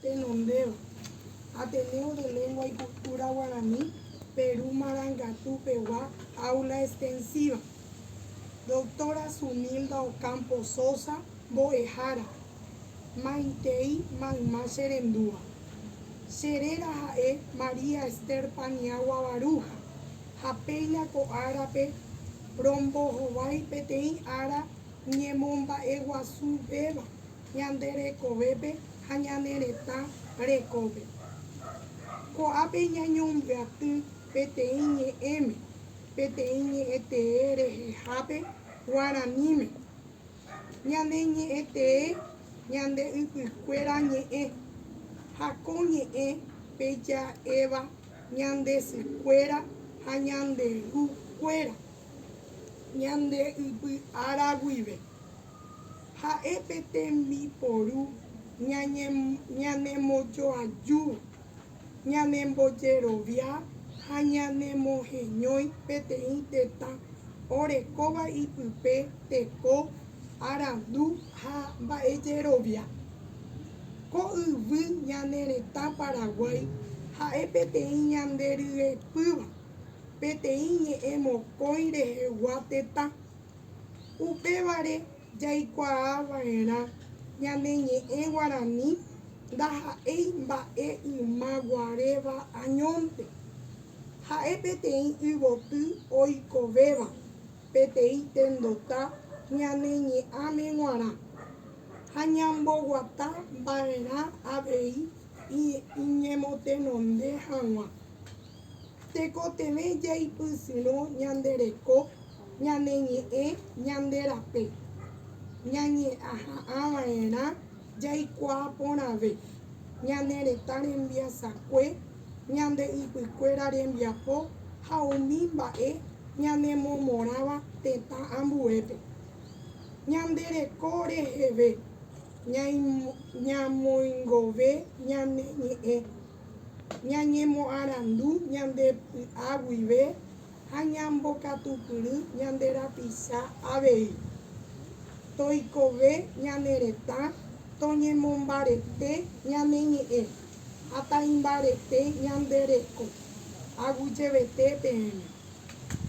Tenondévo, Ateneo de Lengua y Cultura Guarani, Peru Marangatu pegua Aula Extensiva. Doctora Sunilda Ocampo Sosa, Mbo'ehára, Maitei mayma che rendúva. Che réra ha'e María Esther Paniagua Baruja, ha péina ko árape rombohovái peteĩ ára ñemomba'eguasu véva. ñande rekovépe ha ñane retã rekópe. Ko'ápe ñañembyaty peteĩ ñe'ẽme, peteĩ ñe'ẽtee rehehápe guaraníme, Ñane ñe'ẽtee ñande ypykuéra ñe'ẽ, ha ko ñe'ẽ pe ja'éva ñande sykuéra ha ñande ru kuéra ñande ypy ára guive. Ha'e pe tembiporu ñanemojoaju, ñanembojerovia ha ñanemoheñói peteĩ tetã orekóva ipype teko arandu ha mba'ejerovia. Ko yvy ñane retã Paraguái ha'e peteĩ ñande ryepýva, peteĩ ñe'ẽ mokõi rehegua tetã. Upévare jaikuaava'erã ñane ñe'ẽ guarani ndaha'éi mba'e yma guaréva añónte. Ha'e peteĩ yvoty oikovéva peteĩ tendota ñane ñe'ãme guarã, ha ñamboguata mba'erã avei iñemotenonde hag̃ua. Tekotevẽ jaipysyrõ ñande reko, ñane ñe'ẽ, ñande rape. Ñañeha'ãva'erã jaikuaa porãve ñane retã rembiasakue, ñande ypykuéra rembiapo ha umi mba'e ñanemomorãva tetã ambuépe. Ñande reko reheve ñamoingove ñane ñe'ẽ ñañemoarandu ñande py'a guive ha ñambokatupyry ñande rapisa avei. Toikove ñane retã, toñemombarete ñane ñe'ẽ ha taimbarete ñande reko, aguyjevete peẽme.